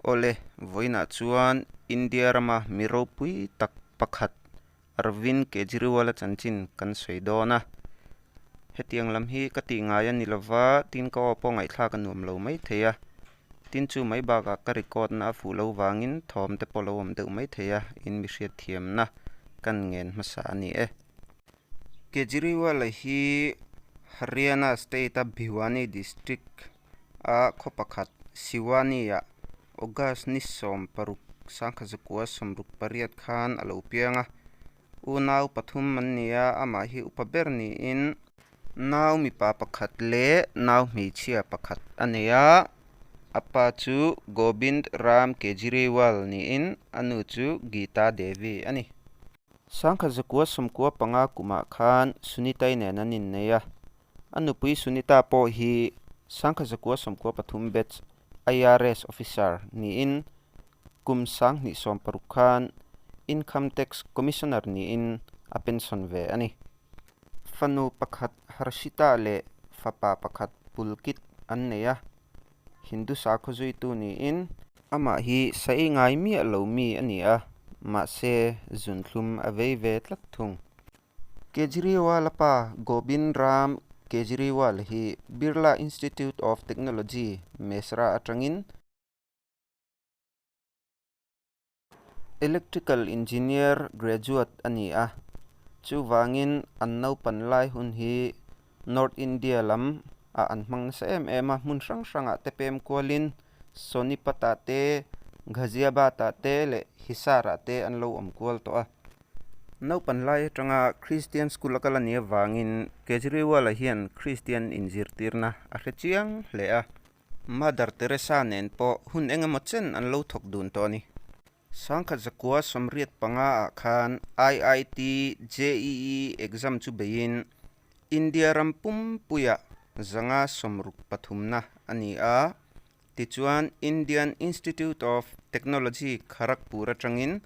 Awle, vawiinah chuan India rama mi ropui tak pakhat Arvind Kejriwal-a chanchin kan sawi dawn a. Hetiang lam hi ka tih ngai a ni lo va, tin ka aw pawh ngaihthlak a nuam lo maithei a. Tin chu mai bakah ka record-na a fuh lo vangin thawm te pawh lo awm deuh maithei a, in mihriat thiamna kan ngen hmasa a ni e. Kejriwal-a hi Haryana state-a Bhiwani district A khaw pakhat, Siwani-ah August ni sawm paruk sangkhat zakua sawmruk pariat khan a lo piang a. U nau pathum an ni a, amah hi upa ber niin. Nau mipa pakhat leh nau hmeichhia pakhat a nei a, a pa chu Gobind Ram Kejriwal niin a nu chu Geeta Devi a ni. Sangkhat zakua sawmkua panga kumah khan Sunita-i nen an innei a. A nupui Sunita pawh hi Sangkha Zakua sawmkua pathum batch IRS officer niin kum sang hnih sawm paruk khan Income Tax Commissioner niin a pension ve a ni. Fanu pakhat Harshita leh fapa pakhat Pulkit an nei a, Hindu sakhaw zuitu niin. Amah hi sa ei ngai miah lo mi a ni a, mahse zunthlum a vei ve tlat thung. Kejriwal-a pa Gobind Ram Kejriwal hi Birla Institute of Technology, Mesra atangin Electrical Engineer graduate a ni a, chuvangin an naupan lai hun hi North India lam ah an hmang nasa em em a, hmun hrang hrang ah te pem kual in Sonipat ah te, Ghaziabad ah te leh Hisar ah te an lo awm kual tawh a. Naupan lai atanga Christian School a kal a ni avang in Kejriwal a hian Christian in zirtir na a hre chiang hle a. Mother Teresa nen pawh hun eng emaw chen an lo thawk dun tawh a ni. Sangkhat zakua sawmriat panga ah khan IIT, JEE exam chu beiin India ram pumpuia zanga sawmruk pathumna a ni a. Tichuan Indian Institute of Technology Kharagpur atangin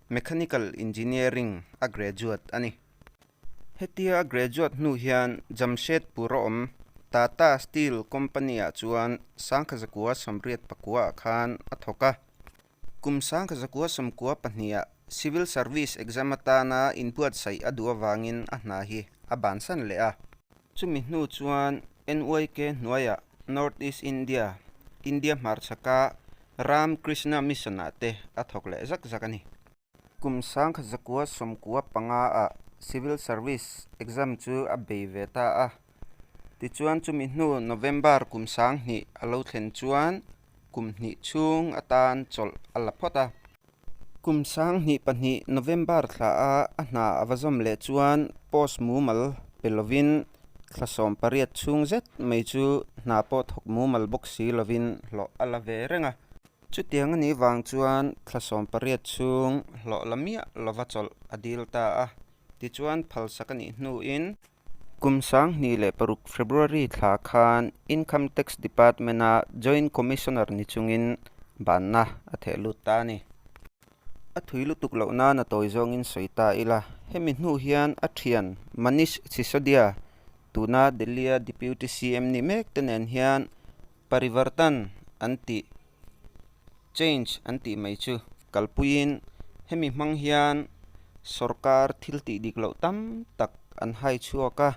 Mechanical Engineering a graduate a ni. Hetia a graduate hnu hian Jamshedpur a awm Tata Steel company ah chuan sangkhat zakua sawmriat pakua ah khan a thawk a. Kum sangka zakua sawmkua pahniha Civil Service Exam atana inbuatsaih a duh avangin a hna hi a ban san leh a. Chumi hnu chuan NYK hnuaia North East India, India hmarchhaka Ram Krishna Mission-ah te a thawk leh zak zak a ni. Kum sangkhat zakua sawmkua panga ah Civil Service exam chu a bei ve ta a. Tichuan chumi hnu November kum sang hnih a lo thlen chuan kum hnih chhung atan chawlh a la phawt a. Kum sang hnih pahnih November thla a a hna a va zawm leh chuan post mumal pe lovin thla sawm pariat chhung zet mai chu hna pawh thawk mumal bawk si lovin hlawh a la ve reng a. Chutiang a nih vang chuan thla sawm pariat chhung hlawh la miah lova chawlh a dil ta a, tichuan phalsak a nih hnuin, kum sanghnih leh paruk, February, thla khan Income Tax Department-a Joint Commissioner ni chungin banna a theh lut ta a ni. A thui lutuk loh nana tawi zawngin sawi ta ila, hemi hnu hian a thian Manish Sisodia, tuna Delhi-a Deputy CM nih mekte nen hian, Parivartan an tih, Change an tih mai chu. Kalpuiin hemi hmang hian sorkar thil tih dik loh tam tak an hai chhuak a,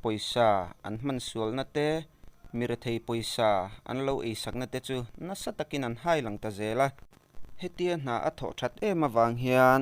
pawisa an hmansualna te, mi rethei pawisa an lo ei sakna te chu nasa takin an hai lang ta zel a. Hetia hna a thawh that em avang hian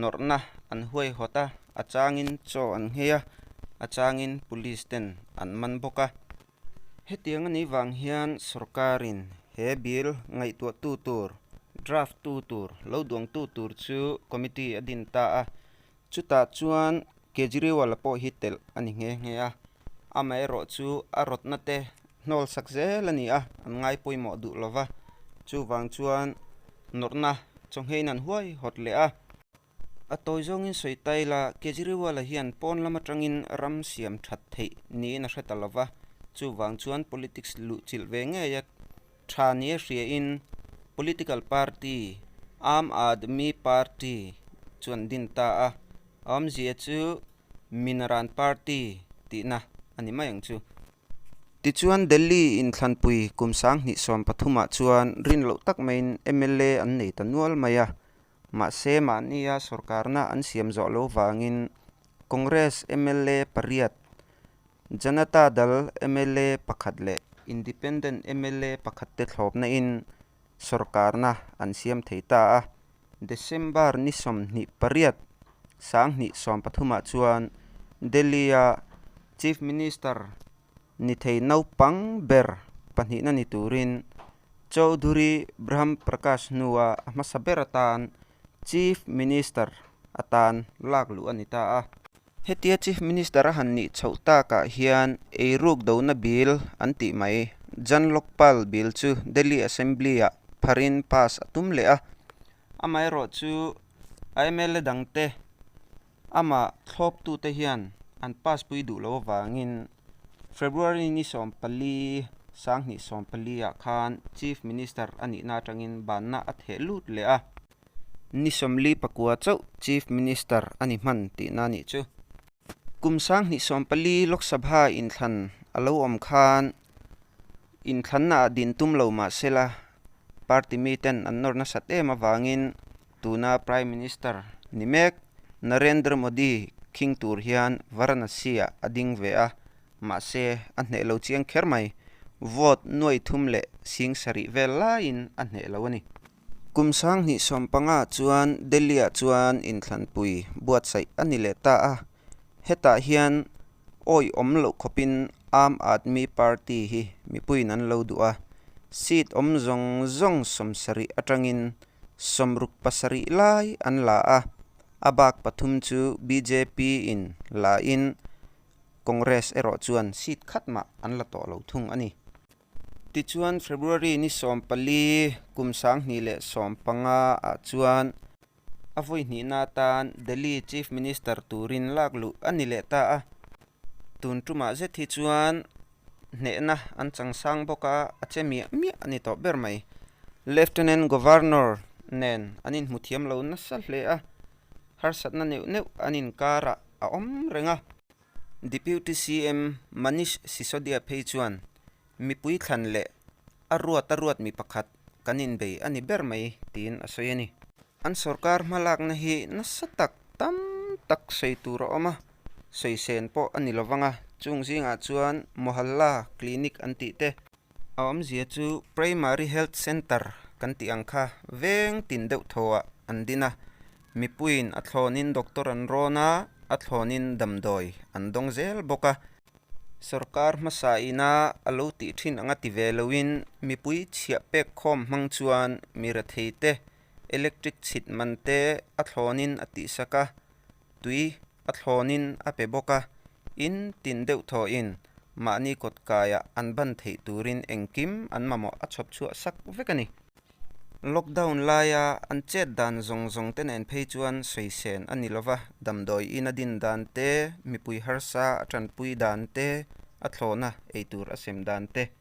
Nawrhna an huai hawt a, a changin chaw an ngei a, a changin police ten an man bawk a. Hetiang a nei vang hian sorkarin he bill ngaihtuahtu tur, draft tu tur, lo duang tu tur chu committee a din ta a. Chutah chuan Kejriwal-a pawh hi telh a ni nghe nghe a, amaherawhchu a rawtna te Hnawlsak zel a ni a, an ngai pawimawh duh lo va, chuvang chuan nawrhna chawnghein an huai hawt leh a. A tawi zawngin sawi ta ila, Kejriwal-a hian pawn lam atangin ram siam that theih niin a hre ta lo va, chuvang chuan politics luhchilh ve ngei a tha nia hriain political party Aam Aadmi Party chu an din ta a, a awmzia chu Minaran Party tihna a ni mai ang chu. Tichuan, Delhi in thlanpui kum sang hnih sawm pathumah chuan rin loh tak maiin mla an nei ta nual mai a. Mahse, mahnia sorkarna an siam zawh lo vangin Congress mla pariat, Janata Dal mla pakhat leh Independent mla pakhat te thlawpna in, sawrkarna an siam thei ta a. December ni sawmhnih pariat sanghnih sawm pathumah chuan Delhi-a Chief Minister ni thei naupang ber pahnihna ni turin Chowdhury Brahm Prakash hnua a hmasa ber atan Chief Minister a tan lak luh a ni ta a. Hetia Chief Minister a han nih chhoh takah hian ei ruk dona Bill an tih mai. Jan Lokpal Bill chu Delhi Assembly-ah pharin pass a tum leh a. Amaherawhchu a mla dangte Amah thlawptute hian an paspui duh lo avangin February ni sawm pali Sanghnih sawm paliah khan Chief Minister a nihna atangin banna a theh lut leh a. Ni sawmli pakua chauh Chief Minister a ni hman tihna nih chu kum Sanghnih sawm pali Lok Sabha inthlan a lo awm khan inthlanna ah din tum lo mahsela party miten an nawr nasat em avangin Tuna Prime Minister ni mek Narendra Modi khing tur hian Varanasi-ah a ding ve a, mahse a hneh lo chiang kher mai. Vote nuai thum leh sing sarih vel laiin a hneh lo a ni. Kum sang hnih sawm panga chuan Delhi-ah chuan inthlanpui buatsaih a ni leh ta a. Hetah hian awih awm loh khawpin Aam Aadmi Party hi mipuiin an lo duh a, seat awm zawng zawng sawm sarih atangin sawm ruk pasarih lai an la a, a bak pathum chu bjp in lahin Congress erawh chuan seat khat mah an la tawh lo thung a ni. Tichuan February ni sawm pali, kum sanghnih leh sawm panga ah chuan, A vawi hnihna atan Delhi Chief Minister turin lak luh a ni leh ta a. Tun tumah zet hi chuan hnehna an changsang bawk a, a che miah miah a ni tawh ber mai. Lieutenant Governor nen an inhmuthiam lo nasa hle a, harsatna neuh neuh an inkarah a awm reng a. Deputy CM Manish Sisodia phei chuan Mipui thlan leh a ruata ruat mi pakhat kan inbei a ni ber mai tiin a sawi a ni. An sorkar hmalakna hi nasa tak tam tak sawi tur a awm a, sawi sen pawh a ni lo vang a, chung zingah chuan Mohalla Clinic an tih te, a awmzia chu Primary Health Centre kan tih ang kha veng tin deuh thawah an din a, mipuiin a thlawnin doctor an rawn a, a thlawnin damdawi an dawng zel bawk a. Sorkar hmasa ina a lo tih thin ang a ti ve loin mipui chhiah pek khawm hmang chuan mi rethei te electric chhit man te a thlawnin a tihsak a, tui a thlawnin a pe bawk a. In tin deuh thawhin mahni kawtkaiah an ban theih turin engkim an mamawh a chhawp chhuah sak vek a ni. Lockdown laia an chet dan zawng zawng te nen phei chuan sawisen a ni lova, damdawi ina din dan te, mipui harsa a tanpui dan te, a thlawna ei tur a sem dan te.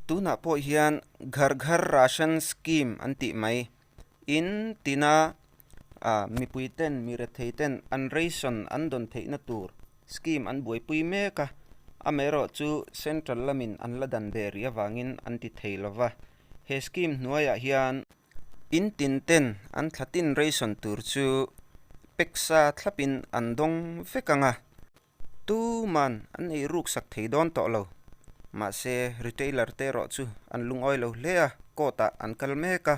Tunah pawh hian Ghar Ghar Ration Scheme an tih mai in tina mipui ten, mi rethei ten an ration an dawn theihna tur scheme an buaipui mek a, amaherawhchu central lamin an la dan ve rih avangin an ti thei lova. He scheme hnuaiah hian in tin ten an thla tin reison tur chu peksa thlapin an dawng vek ang a, tuman an ei ruksak thei dawn tawh lo. Mahse, retailer te erawh chu an lungawi lo hle a, court-ah an kal mek a.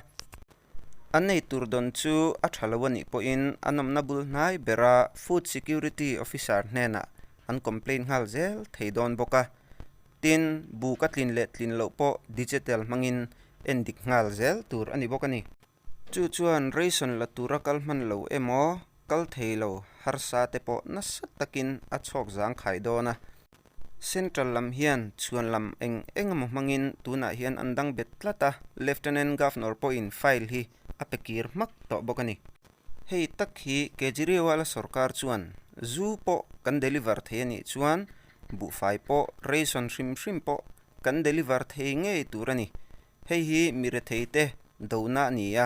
A nei tur dawn chu a tha lo a nih pawhin an awmna bul hnai bera Food Security Officer hnenah an complain nghal zel thei dawn bawk a. Tin, buk a tlin leh tlin loh pawh digital hmangin en dik nghal zel tur a ni bawk a ni. Chu chuan ration la tura kal hman lo emaw, kal thei lo harsa te pawh nasa takin a chhawk zang khai dawn a. Central lam hian chhuan lam eng eng emaw hmangin tunah hian an dang bet tlat a, Lieutenant Governor pawhin file hi a pe kir hmak tawh bawk a ni. Hei tak hi Kejriwal-a sawrkar chuan zu pawh kan deliver thei a nih chuan buhfai pawh, ration hrim hrim pawh kan deliver thei ngei tur a ni. Hei hi mi retheite dohna a ni a,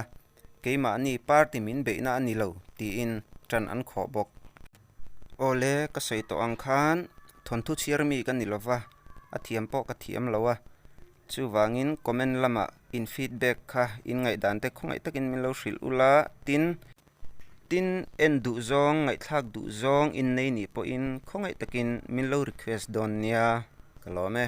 keimahni party min beihna a ni lo, tiin ṭan an khawh bawk. Aw le, ka sawi tawh ang khan thawnthu chhiar mi ka ni lo va, a thiam pawh ka thiam lo a, chuvangin comment lama in feedback kha in ngaihdan te khawngaih takin min lo hrilh ula, tin, tin en duh zawng, ngaihthlak duh zawng in nei nih pawhin khawngaih takin min lo request dawn nia ka lawm e.